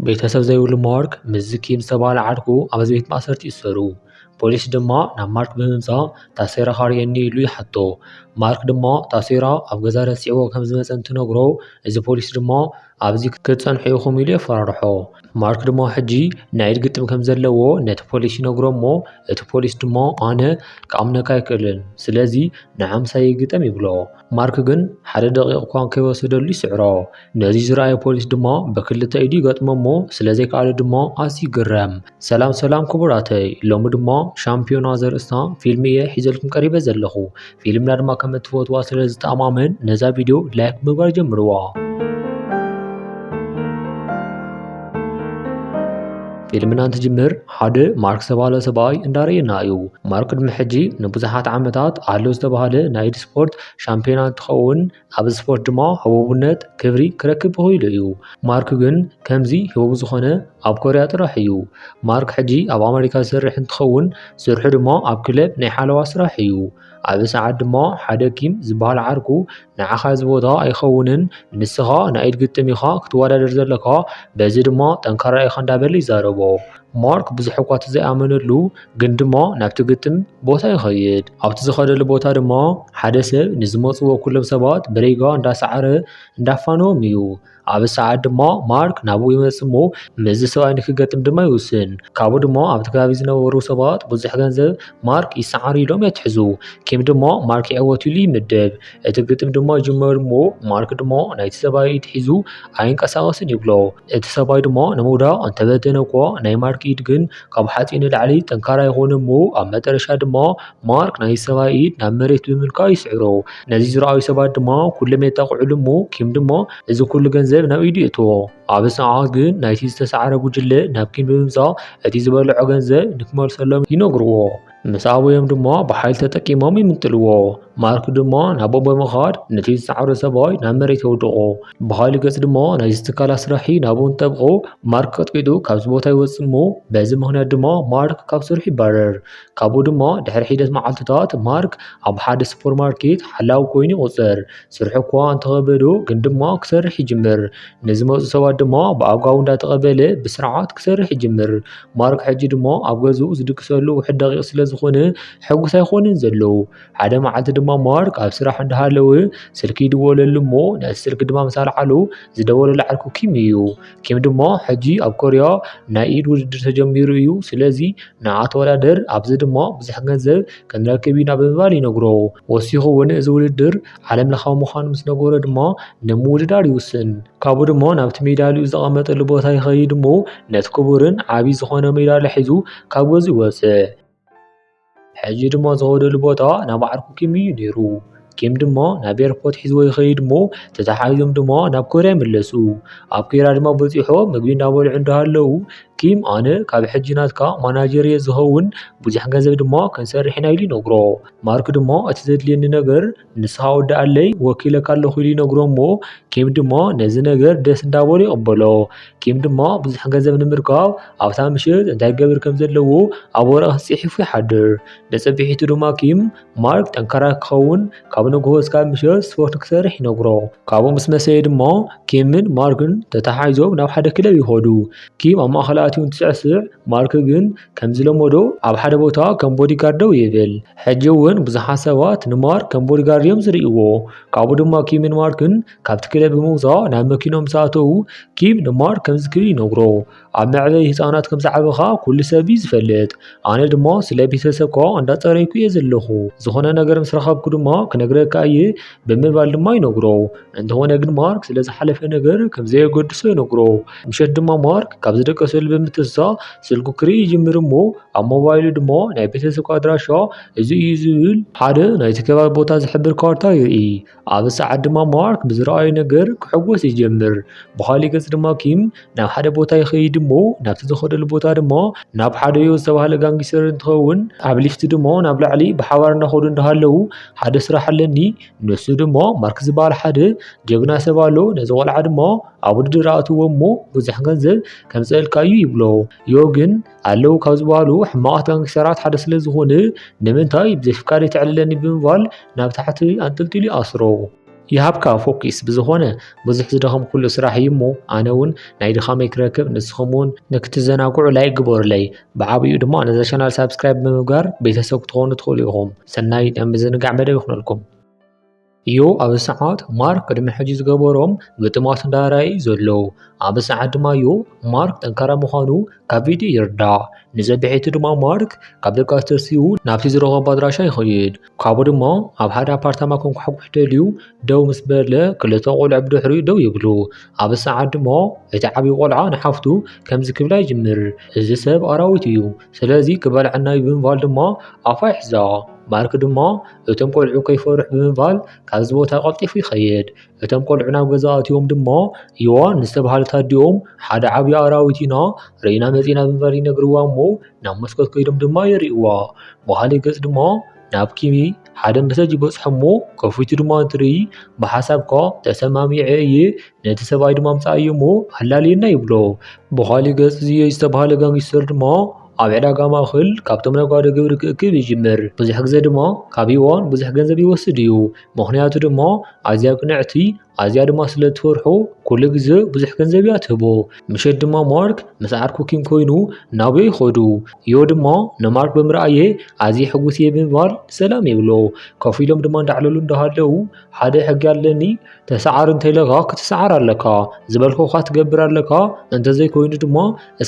ቤተሰብ ዘይብሉ ማርክ ምስዚ ኪም ዝተባህለ ዓርኩ ኣብ ቤት ማእሰርቲ ይእሰሩ። ፖሊስ ድማ ናብ ማርክ ብምምጻእ ታሴራ ኻርእየኒ ኢሉ ይሓቶ። ማርክ ድማ ታሴራ ኣብ ገዛ ረሲዕዎ ከም ዝመጸ እንትነግሮ እዚ ፖሊስ ድማ፣ ኣብዚ ክትጸንሑ ኢኹም ኢሉ የፈራርሖ። ማርክ ድማ ሕጂ ናይ ኢድ ግጥም ከም ዘለዎ ነቲ ፖሊስ ይነግሮ እሞ እቲ ፖሊስ ድማ ኣነ ክኣምነካ ኣይክእልን ስለዚ ንዓምሳየይ ግጠም ይብሎ። ማርክ ግን ሓደ ደቂቕ እኳ ከይወሰደሉ ይስዕሮ። ነዚ ዝረኣየ ፖሊስ ድማ ብክልተ ኢዱ ይገጥሞ እሞ ስለ ዘይከኣሎ ድማ ኣዝዩ ይግረም። ሰላም ሰላም ክቡራተይ ሎሚ ድማ ሻምፒዮና ዘርእስታ ፊልም እየ ሒዘልኩም ቀሪበ ዘለኹ ፊልምና ድማ ከም እትፈትዋ ስለ ዝተኣማመን ነዛ ቪድዮ ላይክ ምግባር ጀምርዋ ፊልምና እንትጅምር ሓደ ማርክ ዝተባሃለ ሰብኣይ እንዳርእየና እዩ ማርክ ቅድሚ ሕጂ ንብዙሓት ዓመታት ኣሎ ዝተባሃለ ናይ ኢድ ስፖርት ሻምፒዮና እንትኸውን ኣብ ስፖርት ድማ ህቡብነት ክብሪ ክረክብ ክኢሉ እዩ። ማርክ ግን ከምዚ ህቡብ ዝኾነ ኣብ ኮርያ ጥራሕ እዩ። ማርክ ሕጂ ኣብ ኣመሪካ ዝሰርሕ እንትኸውን ስርሑ ድማ ኣብ ክለብ ናይ ሓለዋ ስራሕ እዩ። ኣብ ሰዓት ድማ ሓደ ኪም ዝበሃል ዓርኩ ንዓኻ እዚ ቦታ ኣይኸውንን ንስኻ ናይ ኢድ ግጥም ኢኻ ክትወዳደር ዘለካ በዚ ድማ ጠንካራ ኢኻ እንዳበለ ይዛረቦ። ማርክ ብዙሕ እኳ እቲ ዘይኣመነሉ ግን ድሞ ናብቲ ግጥም ቦታ ይኸይድ ኣብቲ ዝኸደሉ ቦታ ድማ ሓደ ሰብ ንዝመፅዎ ኩሎም ሰባት ብሪጋ እንዳሰዓረ እንዳፋነዎም እዩ ኣብ ሰዓት ድማ ማርክ ናብኡ ይመፅእ እሞ ምስዚ ሰብኣይ ንክገጥም ድማ ይውስን ካብኡ ድማ ኣብቲ ከባቢ ዝነበሩ ሰባት ብዙሕ ገንዘብ ማርክ ይሰዓር ኢሎም የትሕዙ ኪም ድማ ማርክ ይዕወት ኢሉ ይምደብ እቲ ግጥም ድማ ይጅመር እሞ ማርክ ድማ ናይቲ ሰብኣይ ኢድ ሒዙ ኣይንቀሳቐስን ይብሎ እቲ ሰብኣይ ድማ ንምውዳቕ እንተፈተነኳ፣ ናይ ማርክ ኢድ ግን ካብ ሓጺን ንላዕሊ ጠንካራ ኣይኰነን'ሞ፣ ኣብ መጠረሻ ድማ ማርክ ናይቲ ሰብኣይ ኢድ ናብ መሬት ብምልካይ ይስዕሮ። ነዚ ዝረኣዩ ሰባት ድማ ኵሎም የጣቕዑሉ'ሞ፣ ኪም ድማ እዚ ኵሉ ገንዘብ ናብ ኢዱ የእትዎ። ኣብ ኣጽንዖት ግን ናይቲ ዝተሳዕረ ጕጅለ ናብ ኪም ብምምጻእ እቲ ዝበልዖ ገንዘብ ንኽመልሰሎም ይነግርዎ። ምስ ኣበዮም ድማ ብሓይሊ ተጠቂሞም ይምንጥልዎ ማርክ ድማ ናብኦም ብምኻድ ነቲ ዝሰዓረ ሰብኣይ ናብ መሬት የውድቖ ብኻሊ ገጽ ድማ ናይ ዝትካል ኣስራሒ ናብኡ እንጠብቑ ማርክ ቀጥቂጡ ካብዚ ቦታ ይወጽእ እሞ በዚ ምኽንያት ድማ ማርክ ካብ ስርሑ ይባረር ካብኡ ድማ ድሕሪ ሒደት መዓልትታት ማርክ ኣብ ሓደ ሱፐር ማርኬት ሓላዊ ኮይኑ ይቑጸር ስርሑ እኳ እንተኸበዶ ግን ድማ ክሰርሕ ይጅምር ንዝመፁ ሰባት ድማ ብኣጓቡ እንዳተቐበለ ብስርዓት ክሰርሕ ይጅምር ማሩክ ሕጂ ድማ ኣብ ገዝኡ ዝድቅሰሉ ውሕድ ደቂቕ ስለ ዝኾነ ሕጉስ ኣይኮነን ዘለዉ ሓደ መዓልቲ ድማ ማርክ ኣብ ስራሕ እንዳሃለወ ስልኪ ይድወለሉ እሞ ነቲ ስልኪ ድማ ምስ ኣልዓሉ ዝደወለሉ ዓርኩ ኪም እዩ ኪም ድማ ሕጂ ኣብ ኮርያ ናይ ኢድ ውድድር ተጀሚሩ እዩ ስለዚ ንዓ ተወዳደር ኣብዚ ድማ ብዙሕ ገንዘብ ክንረክብ ኢና ብምባል ይነግሮ ወሲኹ እውን እዚ ውድድር ዓለም ለኻዊ ምዃኑ ምስ ነገሮ ድማ ንምውድዳር ይውስን። ካብኡ ድማ ናብቲ ሜዳሊኡ ዘቐመጠሉ ቦታ ይኸይድ እሞ ነቲ ክቡርን ዓብዪ ዝኾነ ሜዳሊያ ሒዙ ካብ ገዙ ይወፅእ። ሕጂ ድማ ዝኸደሉ ቦታ ናብ ዓርኩ ኪም እዩ ነይሩ። ኪም ድማ ናብ ኤርፖርት ሒዝዎ ይኸይድ እሞ ተተሓሒዞም ድማ ናብ ኮርያ ይምለሱ። ኣብ ኮርያ ድማ በፂሖ ምግቢ እንዳበልዑ እንዳሃለዉ ኪም ኣነ ካብ ሕጂ ናትካ ማናጀር እየ ዝኸውን ብዙሕ ገንዘብ ድማ ክንሰርሕ ኢና ኢሉ ይነግሮ። ማርክ ድሞ እቲ ዘድልየኒ ነበር ንስኻ ወዲ ኣለይ ወኪለካ ኣለኹ ኢሉ ይነግሮ እሞ ኪም ድሞ ነዚ ነገር ደስ እንዳበሉ ይቕበሎ ኪም ድሞ ብዙሕ ገንዘብ ንምርካብ ኣብታ ምሽት እንታይ ገብር ከም ዘለዎ ኣብ ወረቐት ጽሒፉ ይሓድር ንጽብሒቱ ድማ ኪም ማርክ ጠንካራ ክኸውን ካብ ንግሆ እስካብ ምሽት ስፖርት ክሰርሕ ይነግሮ ካብኡ ምስ መሰየ ድሞ ኪምን ማርክን ተተሓሒዞም ናብ ሓደ ክለብ ይኸዱ ኪም ኣብ ማእኸል ኣትዩ እንትስዕስዕ ማርክ ግን ከምዝለመዶ ኣብ ሓደ ቦታ ከም ቦዲጋርድ ደው ይብል። ሕጂ እውን ብዙሓት ሰባት ንማርክ ከም ቦዲጋርድ እዮም ዝርእይዎ። ካብኡ ድማ ኪምን ማርክን ካብቲ ክለብ ብምውጻእ ናብ መኪኖም ምስ ኣተዉ፣ ኪም ንማርክ ከምዚ ክብል ይነግሮ፣ ኣብ መዕበዪ ህጻናት ከም ዝዓበኻ ኩሉ ሰብ እዩ ዝፈልጥ። ኣነ ድማ ስለ ቤተሰብካ እንዳጸረይኩ እየ ዘለኹ። ዝኾነ ነገር ምስ ረኸብኩ ድማ ክነግረካ እየ ብምባል ድማ ይነግሮ። እንተኾነ ግን ማርክ ስለ ዝሓለፈ ነገር ከም ዘየገድሶ ይነግሮ። ምሸት ድማ ማርክ ካብ ዝደቀሰሉ ብምትንሳእ ስልኩ ክርኢ ይጅምር እሞ ኣብ ሞባይሉ ድማ ናይ ቤተሰብካ ኣድራሻ እዚ እዩ ዝብል ሓደ ናይቲ ከባቢ ቦታ ዝሕብር ካርታ ይርኢ። ኣብ ሰዓት ድማ ማርክ ብዝረኣዩ ነገር ክሕጎስ ይጀምር። ብኻሊእ ገጽ ድማ ኪም ናብ ሓደ ቦታ ይኸይድ እሞ ናብቲ ዝኸደሉ ቦታ ድማ ናብ ሓደ ዮ ዝተባህለ ጋንጊስተር እንትኸውን ኣብ ሊፍቲ ድማ ናብ ላዕሊ ብሓባር እናኸዱ እንዳሃለዉ ሓደ ስራሕ ኣለኒ ንሱ ድሞ ማርክ ዝበሃል ሓደ ጀግና ሰብ ኣሎ ነዚ ቆልዓ ድሞ ኣብ ውድድር ኣእትዎ እሞ ብዙሕ ገንዘብ ከምፅእልካ እዩ ይብሎ ዮ ግን ኣለዉ ካብ ዝበሃሉ ሕማቓት ጋንግስተራት ሓደ ስለ ዝኾነ ንምንታይ ብዘይፍቃደይ ተዕልለኒ ብምባል ናብ ታሕቲ ኣንጠልጢሉ ይኣስሮ ይሃብካ ፎኪስ ብዝኾነ ብዙሕ ዝደኸምኩሉ ስራሕ እዩ እሞ ኣነ እውን ናይ ድኻመይ ክረክብ ንስኹም እውን ንክትዘናግዑ ላይክ ግበሩለይ ብዓብኡ ድማ ነዛ ቻናል ሳብስክራይብ ብምግባር ቤተሰብ ክትኾኑ ትኽእሉ ኢኹም ሰናይ ናይ ምዝንጋዕ መደብ ይኹነልኩም እዩ ኣብ ሰዓት ማርክ ቅድሚ ሕጂ ዝገበሮም ግጥማት እንዳራእዩ ዘሎ ኣብ ሰዓት ድማ እዩ ማርክ ጠንካራ ምዃኑ ካብ ቪድዮ ይርዳእ ንዘብሒቱ ድማ ማርክ ካብ ደቃስ ተሲኡ ናብቲ ዝረኸቦ ኣድራሻ ይኸይድ ካብኡ ድማ ኣብ ሓደ ኣፓርታማ ክንኳሕኩሕ ደልዩ ደው ምስ በለ ክልተ ቆልዑ ብድሕሪኡ ደው ይብሉ። ኣብ ሰዓት ድማ እቲ ዓብዪ ቆልዓ ንሓፍቱ ከምዚ ክብላ ይጅምር፣ እዚ ሰብ ኣራዊት እዩ፣ ስለዚ ክበልዓና እዩ ብምባል ድማ ኣፋ ይሕዛ። ማርክ ድማ እቶም ቆልዑ ከይፈርሑ ብምባል ካብዚ ቦታ ቀልጢፉ ይኸይድ። እቶም ቆልዑ ናብ ገዛ ኣትዮም ድማ ዮዋን ንዝተብሃለት ኣዲኦም ሓደ ዓብዪ ኣራዊት ኢና ርኢና መፂእና ብምባል ይነግርዋ እሞ ናብ መስኮት ከይዶም ድማ የርእይዋ። በሃሊ ገፅ ድማ ናብ ኪሚ ሓደ መሰጅ ይበፅሖ እሞ ከፊቱ ድማ እንትርኢ ብሓሳብካ ተሰማሚዐ እየ ነቲ ሰብኣይ ድማ ኣምፀኣዮ እሞ ኣላልየና ይብሎ። በሃሊ ገፅ ዝዮ ዝተብሃለ ጋንጊስተር ድማ ኣብ ዕዳጋ ማእኸል ካብቶም ነጋዶ ግብሪ ክእክብ ይጅምር። ብዙሕ ግዘ ድማ ካብ ዮዋን ብዙሕ ገንዘብ ይወስድ እዩ። ምኽንያቱ ድማ ኣዝያ ቅንዕቲ ኣዝያ ድማ ስለ እትፈርሖ ኩሉ ግዜ ብዙሕ ገንዘብ እያ ትህቦ። ምሸት ድማ ማርክ ምስ ዓርኩ ኪም ኮይኑ ናብኡ ይኸዱ። ዮ ድማ ንማርክ ብምርኣየ ኣዝየ ሕጉስ እየ ብምባል ሰላም ይብሎ። ኮፍ ኢሎም ድማ እንዳዕለሉ እንዳሃለዉ ሓደ ሕጊ ኣለኒ ተሰዓር እንተኢለካ ክትሰዓር ኣለካ ዝበልኩኻ ትገብር ኣለካ እንተዘይኮይኑ ድማ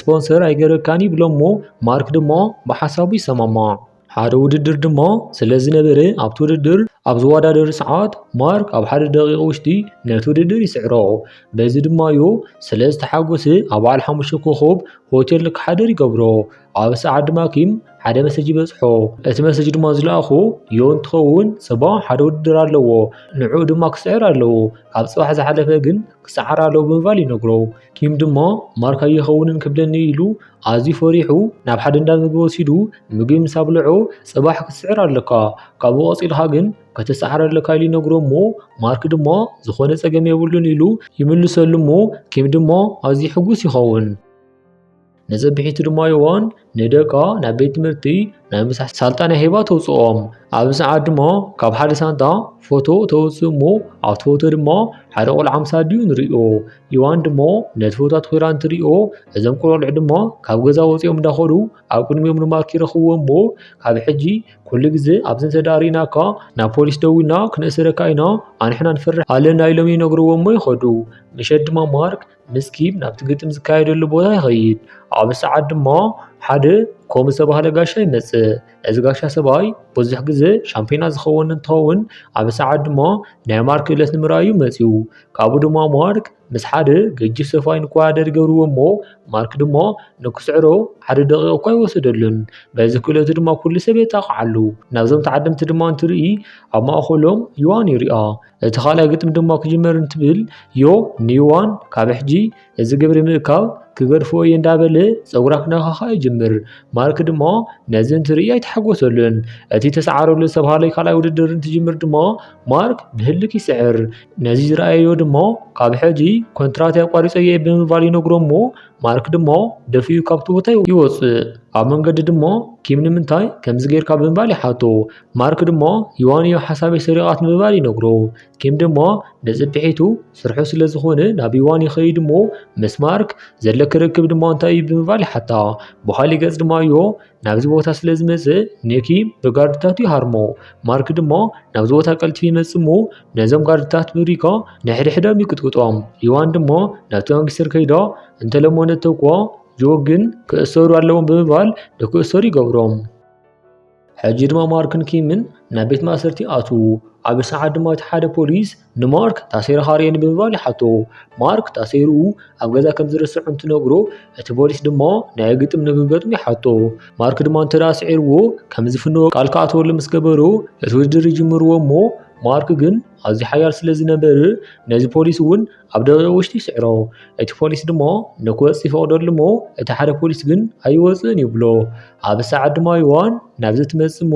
ስፖንሰር ኣይገረካን ይብሎሞ ማርክ ድማ ብሓሳቡ ይሰማማዕ። ሓደ ውድድር ድማ ስለ ዝነበረ ኣብቲ ውድድር ኣብ ዝወዳደሩ ሰዓት ማርክ ኣብ ሓደ ደቂቕ ውሽጢ ነቲ ውድድር ይስዕሮ። በዚ ድማ እዩ ስለ ዝተሓጎሰ ኣብ በዓል ሓሙሽተ ኮኾብ ሆቴል ንክሓድር ይገብሮ። ኣብ ሰዓት ድማ ኪም ሓደ መሰጅ ይበጽሖ። እቲ መሰጅ ድማ ዝለኣኹ ዮ እንትኸውን ጽባሕ ሓደ ውድድር ኣለዎ ንዕኡ ድማ ክስዕር ኣለዎ ካብ ጽባሕ ዝሓለፈ ግን ክስዓር ኣለዎ ብምባል ይነግሮ። ኪም ድማ ማርክ ኣይኸውንን ክብለኒ ኢሉ ኣዝዩ ፈሪሑ ናብ ሓደ እንዳ ምግቢ ወሲዱ ምግቢ ምስ ኣብልዖ ጽባሕ ክትስዕር ኣለካ ካብኡ ቀጺልካ ግን ከተሰዓር ኣለካ ኢሉ ይነግሮ እሞ ማርክ ድማ ዝኾነ ጸገም የብሉን ኢሉ ይምልሰሉ እሞ ኪም ድማ ኣዝዩ ሕጉስ ይኸውን። ነዘብሒቱ ድማ ይሆን ንደቃ ናብ ቤት ትምህርቲ ናይ ምሳሕ ሳልጣ ናይ ሄባ ተውፅኦም ኣብ ሰዓት ድማ ካብ ሓደ ሳንጣ ፎቶ ተውፅእ እሞ ኣብቲ ፎቶ ድማ ሓደ ቆልዓ ምስ ኣዲኡ ንሪኦ ይዋን ድማ ነቲ ፎቶ ኣትኲራ እንትሪኦ እዞም ቆልዑ ድማ ካብ ገዛ ወፂኦም እንዳኸዱ ኣብ ቅድሚኦም ንማርክ ይረኽብዎ እሞ ካብ ሕጂ ኩሉ ግዜ ኣብዚ እንተዳሪእናካ ናብ ፖሊስ ደዊና ክነእስረካ ኢና ኣንሕና ንፈርሕ ኣለና ኢሎም ይነግርዎ እሞ ይኸዱ ምሸት ድማ ማርክ ምስኪ ናብቲ ግጥም ዝካየደሉ ቦታ ይኸይድ። ኣብ ሰዓት ድማ ሓደ ኮም ዝተባህለ ጋሻ ይመጽእ እዚ ጋሻ ሰብኣይ ብዙሕ ግዜ ሻምፒዮና ዝኸውን እንትኸውን ኣብ ሰዓት ድማ ናይ ማር ክእለት ንምርኣዩ መጺኡ ካብኡ ድማ ማርክ ምስ ሓደ ገጂፍ ሰብኣይ ንክወዳደር ይገብርዎ እሞ ማርክ ድማ ንክስዕሮ ሓደ ደቒቕ እኳ ኣይወሰደሉን በዚ ክእለቱ ድማ ኩሉ ሰብ የጣቕዓሉ ናብዞም ተዓደምቲ ድማ እንትርኢ ኣብ ማእከሎም ዩሃን ይርኣ። እቲ ካልኣይ ግጥሚ ድማ ክጅመር እንትብል ዮ ኒዋን ካብ ሕጂ እዚ ግብሪ ምእካብ ክገድፍዎ እየ እንዳበለ ፀጉራ ክነኻኻ ይጅምር። ማርክ ድማ ነዚ እንትርኢ ኣይተሓጎሰሉን። እቲ ተሰዓረሉ ዝተባሃለ ካልኣይ ውድድር እንትጅምር ድማ ማርክ ብህልክ ይስዕር። ነዚ ዝረኣየዮ ድማ ካብ ሕጂ ኮንትራት ኣቋሪፀ እየ ብምባል ይነግሮ እሞ ማርክ ድማ ደፊኡ ካብቲ ቦታ ይወፅእ። ኣብ መንገዲ ድማ ኪም ንምንታይ ከምዚ ጌርካ ብምባል ይሓቶ። ማርክ ድሞ ዮዋንዮ ሓሳበይ ሰሪቓት ንምባል ይነግሮ ኪም ድሞ ንጽብሒቱ ስርሑ ስለ ዝኾነ ናብ ዮዋን ይኸይድ እሞ ምስ ማርክ ዘለኪ ርክብ ድማ እንታይ እዩ ብምባል ይሓታ ብኻሊእ ገጽ ድማ ዮ ናብዚ ቦታ ስለ ዝመጽእ ንኪ ብጋርድታቱ ይሃርሞ ማርክ ድሞ ናብዚ ቦታ ቀልጢፉ ይመጽእ እሞ ነዞም ጋርድታት ብሪኮ ንሕድሕዶም ይቅጥቅጦም ዮዋን ድሞ ናብቲ ጋንግስተር ከይዶ እንተለሞ ነተውክዎ ዮ ግን ክእሰሩ ኣለዎም ብምባል ንክእሰሩ ይገብሮም ሕጂ ድማ ማርክን ኪምን ናብ ቤት ማእሰርቲ ኣትዉ። ኣብ ሰዓት ድማ እቲ ሓደ ፖሊስ ንማርክ ታሲርኻ ርኤ ንምባል ይሓቶ። ማርክ ታሲሩ ኣብ ገዛ ከም ዝርስዕ እንትነግሮ እቲ ፖሊስ ድማ ናይ ግጥም ንክገጥም ይሓቶ። ማርክ ድማ እንተ ስዒርዎ ከም ዝፍንዎ ቃል ክኣትወሉ ምስ ገበሮ እቲ ውድድር ይጅምርዎ እሞ ማርክ ግን ኣዝዩ ሓያል ስለ ዝነበር ነዚ ፖሊስ እውን ኣብ ደቂቕ ውሽጢ ይስዕሮ። እቲ ፖሊስ ድማ ንክወጽእ ይፈቕደሉ እሞ እቲ ሓደ ፖሊስ ግን ኣይወጽእን ይብሎ። ኣብ ሰዓት ድማ ዮዋን ናብዚ ትመጽእ እሞ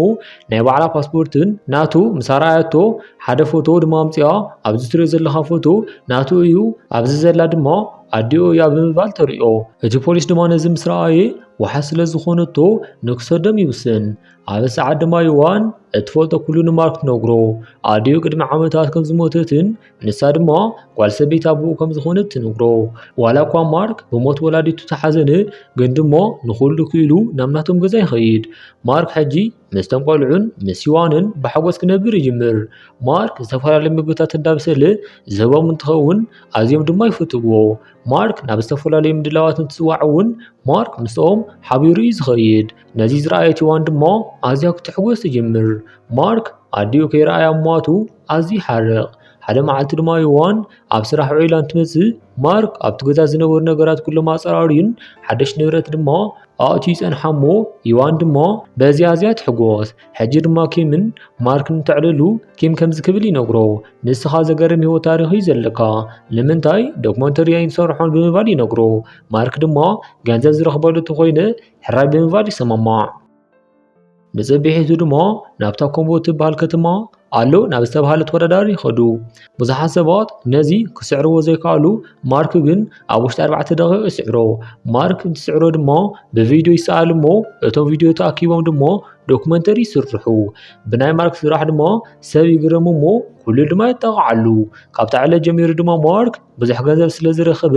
ናይ ባዕላ ፓስፖርትን ናቱ ምስ ኣርኣያቶ ሓደ ፎቶ ድማ ኣምጽኣ ኣብዚ ትሪኦ ዘለኻ ፎቶ ናቱ እዩ ኣብዚ ዘላ ድማ ኣዲኡ እያ ብምባል ተሪኦ። እቲ ፖሊስ ድማ ነዚ ምስ ረኣየ ውሓ ስለ ዝኾነቶ ንክሰዶም ይውስን። ኣብ ሰዓት ድማ ዮዋን እትፈልጦ ኩሉ ንማርክ ትነግሮ። ኣዲኡ ቅድሚ ዓመታት ከም ዝሞተትን ንሳ ድማ ጓል ሰበይቲ ኣቦኡ ከም ዝኾነት ትነግሮ። ዋላ እኳ ማርክ ብሞት ወላዲቱ ተሓዘነ፣ ግን ድማ ንኹሉ ክኢሉ ናብ ናቶም ገዛ ይኸይድ። ማርክ ሕጂ ምስቶም ቆልዑን ምስ ሲዋንን ብሓጎስ ክነብር ይጅምር። ማርክ ዝተፈላለዩ ምግብታት እንዳብሰለ ዝህቦም እንትኸውን ኣዝዮም ድማ ይፍትዎ። ማርክ ናብ ዝተፈላለዩ ምድላዋት እንትፅዋዕ እውን ማርክ ምስኦም ሓቢሩ እዩ ዝኸይድ። ነዚ ዝረኣየት ዮዋን ድማ ኣዝያ ክትሕጎስ ትጅምር። ማርክ ኣዲኡ ከይረኣያ ምሟቱ ኣዝዩ ይሓርቕ። ሓደ መዓልቲ ድማ ዮዋን ኣብ ስራሕ ውዒላ እንትመጽእ፣ ማርክ ኣብቲ ገዛ ዝነበሩ ነገራት ኩሎም ኣጸራርዩን ሓደሽ ንብረት ድማ ኣእትዩ ይጸንሓ እሞ ዮዋን ድማ በዚ ኣዝያ ትሕጎስ። ሕጂ ድማ ኪምን ማርክን እንተዕልሉ ኪም ከምዚ ክብል ይነግሮ፣ ንስኻ ዘገርም ህይወት ታሪኽ እዩ ዘለካ፣ ንምንታይ ዶክመንተሪ ኣይንሰርሖን ብምባል ይነግሮ። ማርክ ድማ ገንዘብ ዝረኽበሉ እንተኾይነ ሕራይ ብምባል ይሰማማዕ። ብፅብሒ እዙ ድሞ ናብታ ኮምቦ እትበሃል ከተማ ኣሎ ናብ ዝተብሃለ ተወዳዳሪ ይኸዱ ብዙሓት ሰባት ነዚ ክስዕርዎ ዘይከኣሉ ማርክ ግን ኣብ ውሽጢ ኣርባዕተ ደቂቕ ይስዕሮ ማርክ እንትስዕሮ ድሞ ብቪድዮ ይሰኣል እሞ እቶም ቪድዮ ተኣኪቦም ድሞ ዶክመንተሪ ይስርሑ ብናይ ማርክ ስራሕ ድሞ ሰብ ይግረሙ እሞ ኩሉ ድማ ይጠቕዓሉ ካብታ ዕለት ጀሚሩ ድማ ማርክ ብዙሕ ገንዘብ ስለ ዝረኸበ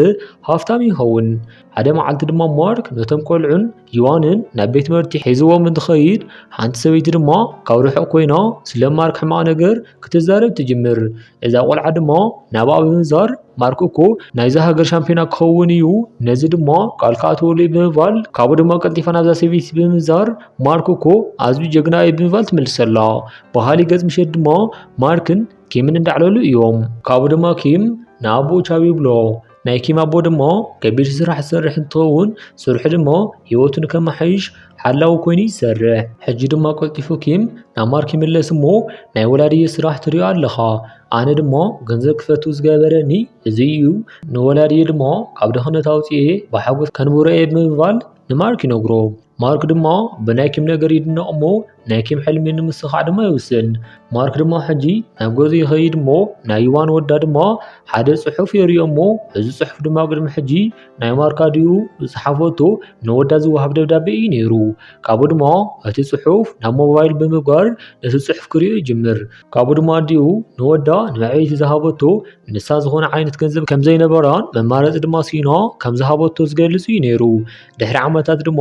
ሃፍታም ይኸውን ሓደ መዓልቲ ድማ ማርክ ነቶም ቆልዑን ዮዋንን ናብ ቤት ትምህርቲ ሒዝዎም እንትኸይድ ሓንቲ ሰበይቲ ድማ ካብ ርሑቕ ኮይና ስለ ማርክ ሕማቕ ነገር ክትዛረብ ትጅምር። እዛ ቆልዓ ድማ ናብኣ ብምዛር ማርክ እኮ ናይዛ ሃገር ሻምፒዮና ክኸውን እዩ፣ ነዚ ድማ ቃል ክኣትወሉ እዩ ብምባል ካብኡ ድማ ቀልጢፋ ናብዛ ሰበይቲ ብምዛር ማርክ እኮ ኣዝዩ ጀግና እዩ ብምባል ትምልሰላ። በሃሊ ገጽ ምሸት ድማ ማርክን ኪምን እንዳዕለሉ እዮም። ካብኡ ድማ ኪም ንኣቦኡ ቻብ ይብሎ። ናይ ኪም ኣቦ ድሞ ከቢድ ስራሕ ዝሰርሕ እንትኸውን ስርሑ ድሞ ህይወቱ ንከመሓይሽ ሓላዊ ኮይኑ ይሰርሕ። ሕጂ ድማ ቀልጢፉ ኪም ናብ ማርክ ይምለስ እሞ ናይ ወላድየ ስራሕ ትሪኦ ኣለኻ። ኣነ ድሞ ገንዘብ ክፈቱ ዝገበረኒ እዚ እዩ። ንወላድየ ድሞ ካብ ድኽነት ኣውፂኤ ብሓጎስ ከንብሮ እየ ብምባል ንማርክ ይነግሮ። ማርክ ድማ ብናይ ኪም ነገር ይድነቕ እሞ ናይ ኪም ሕልሚ ንምስኻዕ ድማ ይውስን። ማርክ ድማ ሕጂ ናብ ገዙ ይኸይድ እሞ ናይ ዩዋን ወዳ ድማ ሓደ ጽሑፍ የርእዮ እሞ እዚ ጽሑፍ ድማ ቅድሚ ሕጂ ናይ ማርክ ኣዲኡ ዝጸሓፈቶ ንወዳ ዝወሃብ ደብዳቤ እዩ ነይሩ። ካብኡ ድማ እቲ ጽሑፍ ናብ ሞባይል ብምግባር ነቲ ጽሑፍ ክርእዮ ይጅምር። ካብኡ ድማ ኣዲኡ ንወዳ ንመዕበይቲ ዝሃበቶ ንሳ ዝኾነ ዓይነት ገንዘብ ከም ዘይነበራን መማረፂ ድማ ስኢና ከም ዝሃበቶ ዝገልፅ እዩ ነይሩ። ድሕሪ ዓመታት ድማ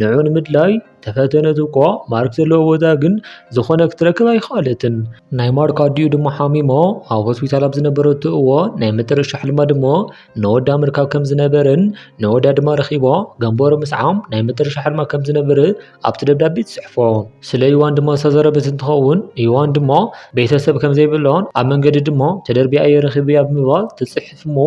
ንዑ ንምድላይ ተፈተነት እኳ ማርክ ዘለዎ ቦታ ግን ዝኾነ ክትረክብ ኣይኸኣለትን። ናይ ማርክ ኣዲኡ ድማ ሓሚሞ ኣብ ሆስፒታል ኣብ ዝነበረቶ እዋን ናይ መጨረሻ ሕልማ ድማ ንወዳ ምርካብ ከም ዝነበረን ንወዳ ድማ ረኺባ ገንበሮ ምስዓም ናይ መጨረሻ ሕልማ ከም ዝነበረ ኣብቲ ደብዳቤ ትጽሕፎ ስለ ዩዋን ድሞ ዝተዘረበት እንትኸውን ዩዋን ድሞ ቤተሰብ ከም ዘይብሎን ኣብ መንገዲ ድሞ ተደርቢያ እየ ረኺብያ ብምባል ትጽሕፍ እሞ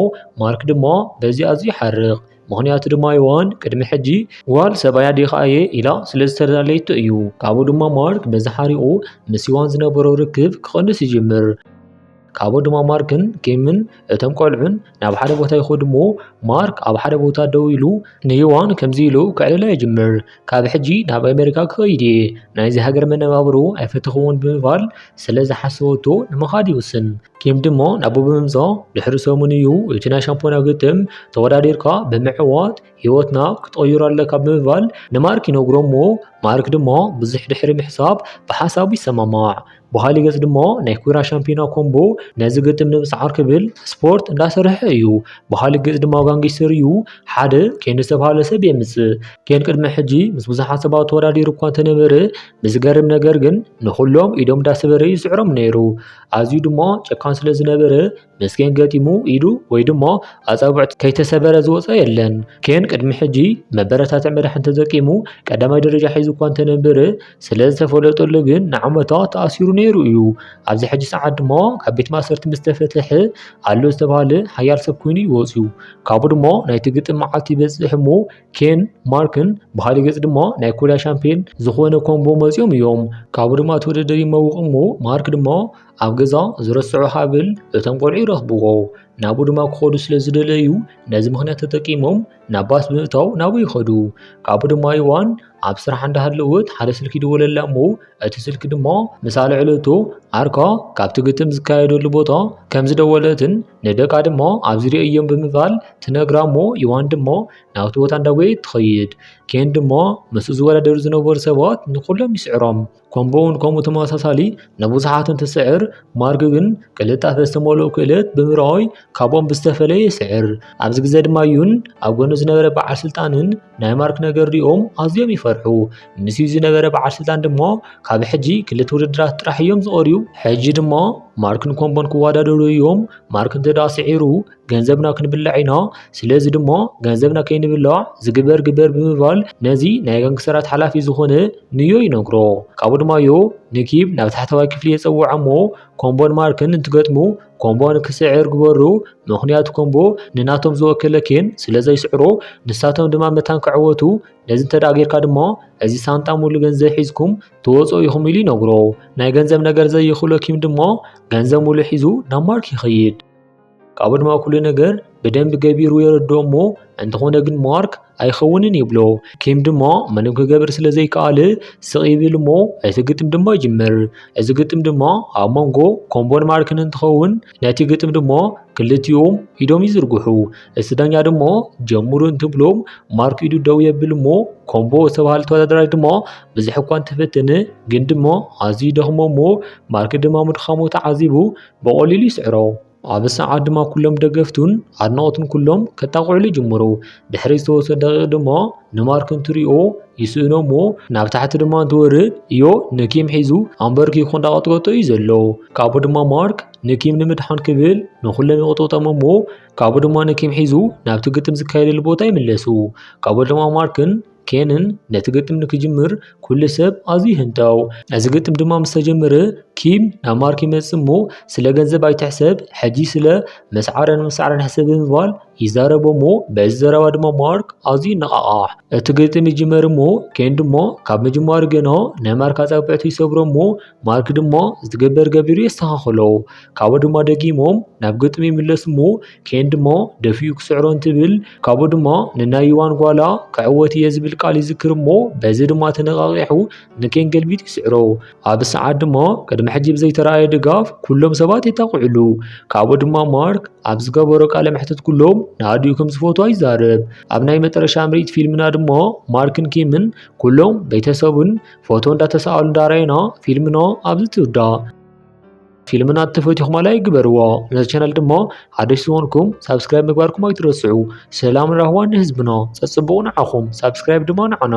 ማርክ ድሞ በዚ ኣዝዩ ይሓርቕ ምኽንያቱ ድማ ዩዋን ቅድሚ ሕጂ ጓል ሰብኣያ ዲኻ እየ ኢላ ስለ ዝተላለየቶ እዩ። ካብኡ ድማ ማርክ በዚ ሓሪቑ ምስ ዩዋን ዝነበሮ ርክብ ክቕንስ ይጅምር። ካብኡ ድማ ማርክን ኬምን እቶም ቆልዑን ናብ ሓደ ቦታ ይኸዱ እሞ ማርክ ኣብ ሓደ ቦታ ደው ኢሉ ንዮዋን ከምዚ ኢሉ ክዕልሎ ይጅምር ካብ ሕጂ ናብ ኣሜሪካ ክኸይድ እየ ናይዚ ሃገር መነባብሮ ኣይፈተኽዎን ብምባል ስለ ዝሓሰበቶ ንምኻድ ይውስን ኬም ድማ ናብኡ ብምምፃእ ድሕሪ ሰሙን እዩ እቲ ናይ ሻምፖና ግጥም ተወዳዲርካ ብምዕዋት ህይወትና ክትቕይሮ ኣለካ ብምባል ንማርክ ይነግሮ እሞ ማርክ ድማ ብዙሕ ድሕሪ ምሕሳብ ብሓሳቡ ይሰማማዕ። በሃሊ ገጽ ድማ ናይ ኩራ ሻምፒዮና ኮምቦ ነዚ ግጥም ንምስዓር ክብል ስፖርት እንዳሰርሐ እዩ። በሃሊ ገጽ ድማ ጋንጊስተር እዩ። ሓደ ኬን ዝተብሃለ ሰብ የምጽእ። ኬን ቅድሚ ሕጂ ምስ ብዙሓት ሰባት ተወዳዲሩ እኳ እንተነበረ ብዝገርም ነገር ግን ንኹሎም ኢዶም እንዳሰበረ እዩ ዝስዕሮም ነይሩ። ኣዝዩ ድማ ጨካን ስለ ዝነበረ ምስ ኬን ገጢሙ ኢዱ ወይ ድሞ ኣጻብዕቱ ከይተሰበረ ዝወፀ የለን። ኬን ቅድሚ ሕጂ መበረታትዕ መድሓን ተጠቂሙ ቀዳማይ ደረጃ ሒዙ እኳ እንተነበረ ስለ ዝተፈለጠሉ ግን ንዓመታት ተኣሲሩ ነይሩ እዩ። ኣብዚ ሕጂ ሰዓት ድማ ካብ ቤት ማእሰርቲ ምስ ተፈትሐ ኣሎ ዝተባህለ ሓያል ሰብ ኮይኑ እዩ ወፂኡ። ካብኡ ድማ ናይቲ ግጥም መዓልቲ ይበፅሕ እሞ ኬን፣ ማርክን ብኻሊእ ገፅ ድማ ናይ ኮርያ ሻምፕዮን ዝኾነ ኮምቦ መፂኦም እዮም። ካብኡ ድማ እቲ ውድድር ይመውቕ እሞ ማርክ ድማ ኣብ ገዛ ዝረስዑ ሃብል እቶም ቆልዑ ይረኽብዎ ናብኡ ድማ ክኸዱ ስለ ዝደለዩ ነዚ ምኽንያት ተጠቂሞም ናብ ባስ ብምእታው ናብኡ ይኸዱ ካብኡ ድማ ይዋን ኣብ ስራሕ እንዳሃለወት ሓደ ስልኪ ይደወለላ እሞ እቲ ስልኪ ድማ ምስ ኣልዕለቶ ኣርካ ካብቲ ግጥም ዝካየደሉ ቦታ ከም ዝደወለትን ንደቃ ድማ ኣብዚ ርእዮም ብምባል ትነግራ እሞ ይዋን ድማ ናብቲ ቦታ እንዳጎየት ትኸይድ ኬን ድማ ምስ ዝወዳደሩ ዝነበሩ ሰባት ንኩሎም ይስዕሮም ኮምቦውን ከምኡ ተመሳሳሊ ንብዙሓትን ትስዕር ማርክ ግን ቅልጣፈ ዝተመልኦ ክእለት ብምርኣይ ካብኦም ብዝተፈለየ ይስዕር ኣብዚ ግዜ ድማ ዩን ኣብ ጎኑ ዝነበረ በዓል ስልጣንን ናይ ማርክ ነገር ሪኦም ኣዝዮም ይፈርሑ ምስ ዩ ዝነበረ በዓል ስልጣን ድማ ካብ ሕጂ ክልተ ውድድራት ጥራሕ እዮም ዝቐርዩ ሕጂ ድማ ማርክን ኮምቦን ክወዳደሩ እዮም ማርክ እንተደኣ ስዒሩ ገንዘብና ክንብልዕ ኢና ስለዚ ድሞ ገንዘብና ከይንብልዕ ዝግበር ግበር ብምባል ነዚ ናይ ጋንግስተራት ሓላፊ ዝኾነ ንዮ ይነግሮ ካብኡ ድማ ዮ ንኪብ ናብ ታሕተዋይ ክፍሊ የፀውዖ እሞ ኮምቦን ማርክን እንትገጥሙ ኮምቦ ንክስዕር ግበሩ ምኽንያቱ ኮምቦ ንናቶም ዝወከለ ኬን ስለ ዘይስዕሮ ንሳቶም ድማ መታን ክዕወቱ ነዚ እንተ ደኣ ጌርካ ድማ እዚ ሳንጣ ሙሉ ገንዘብ ሒዝኩም ትወፁ ኢኹም ኢሉ ይነግሮ ናይ ገንዘብ ነገር ዘይኽእሎ ኪም ድማ ገንዘብ ሙሉ ሒዙ ናብ ማርክ ይኸይድ ካብኡ ድማ ኩሉ ነገር ብደንቢ ገቢሩ የረድኦ እሞ እንተኾነ ግን ማርክ ኣይኸውንን ይብሎ። ኪም ድማ ምንም ክገብር ስለ ዘይከኣለ ስቕ ይብል እሞ እቲ ግጥም ድማ ይጅምር። እዚ ግጥም ድማ ኣብ መንጎ ኮምቦን ማርክን እንትኸውን ነቲ ግጥም ድማ ክልቲኦም ኢዶም ይዝርግሑ። እቲ ዳኛ ድማ ጀምሩ እንትብሎም ማርክ ኢዱ ደው የብል እሞ ኮምቦ ዝተባህለ ተወዳዳራይ ድማ ብዙሕ እኳ እንተፈተነ ግን ድማ ኣዝዩ ደኽሞ እሞ ማርክ ድማ ምድኻሙ ተዓዚቡ ብቐሊሉ ይስዕሮ። ኣብ ሰዓት ድማ ኩሎም ደገፍቱን ኣድናቖቱን ኩሎም ከጣቕዕሉ ይጅምሩ። ድሕሪ ዝተወሰኑ ደቂቕ ድማ ንማርክ እንትሪኦ ይስእኖ እሞ ናብ ታሕቲ ድማ እንትወርድ እዮ ንኪም ሒዙ ኣንበርኪኹ እንዳቐጥቀጦ እዩ ዘሎ። ካብኡ ድማ ማርክ ንኪም ንምድሓን ክብል ንኹሎም ይቕጥቕጦም እሞ ካብኡ ድማ ንኪም ሒዙ ናብቲ ግጥም ዝካየደሉ ቦታ ይምለሱ። ካብኡ ድማ ማርክን ኬንን ነቲ ግጥም ንክጅምር ኩሉ ሰብ ኣዝዩ ይህንጠው። እዚ ግጥም ድማ ምስ ተጀመረ ኪም ናብ ማርክ ይመጽእ እሞ ስለ ገንዘብ ኣይትሕሰብ ሕጂ ስለ መስዓረን ምስዓረን ሕሰብ ብምባል ይዛረቦ እሞ በዚ ዘረባ ድማ ማርክ ኣዝዩ ይነቓቓሕ። እቲ ግጥም ይጅመር እሞ ኬን ድማ ካብ ምጅማሩ ገና ናይ ማርክ ኣጻብዕቱ ይሰብሮ እሞ ማርክ ድማ ዝትገበር ገቢሩ የስተኻኽሎ። ካብኡ ድማ ደጊሞም ናብ ግጥም ይምለሱ እሞ ኬን ድሞ ደፊኡ ክስዕሮ እንትብል ካብኡ ድማ ንናይ ዩዋን ጓላ ክዕወት እየ ዝብል ቃል ይዝክር እሞ በዚ ድማ ተነቓቂሑ ንኬን ገልቢጥ ይስዕሮ ኣብ ሰዓት ድማ ቅድሚ ሕጂ ብዘይተረኣየ ድጋፍ ኩሎም ሰባት የጣቕዕሉ ካብኡ ድማ ማርክ ኣብ ዝገበሮ ቃለ መሕትት ኩሎም ንኣዲኡ ከም ዝፈትዋ ይዛረብ ኣብ ናይ መጠረሻ ምርኢት ፊልምና ድማ ማርክን ኪምን ኩሎም ቤተሰቡን ፎቶ እንዳተሰኣሉ እንዳረኣና ፊልምና ኣብዚ ትውዳእ ፊልምና ተፈቲኹማል ኣይግበርዎ ነዚ ቻናል ድማ ሓደሽ ዝኾንኩም ሳብስክራይብ ምግባርኩም ኣይትረስዑ ሰላም ራህዋን ንህዝብና ፀፅቡቑ ንዓኹም ሳብስክራይብ ድማ ንዓና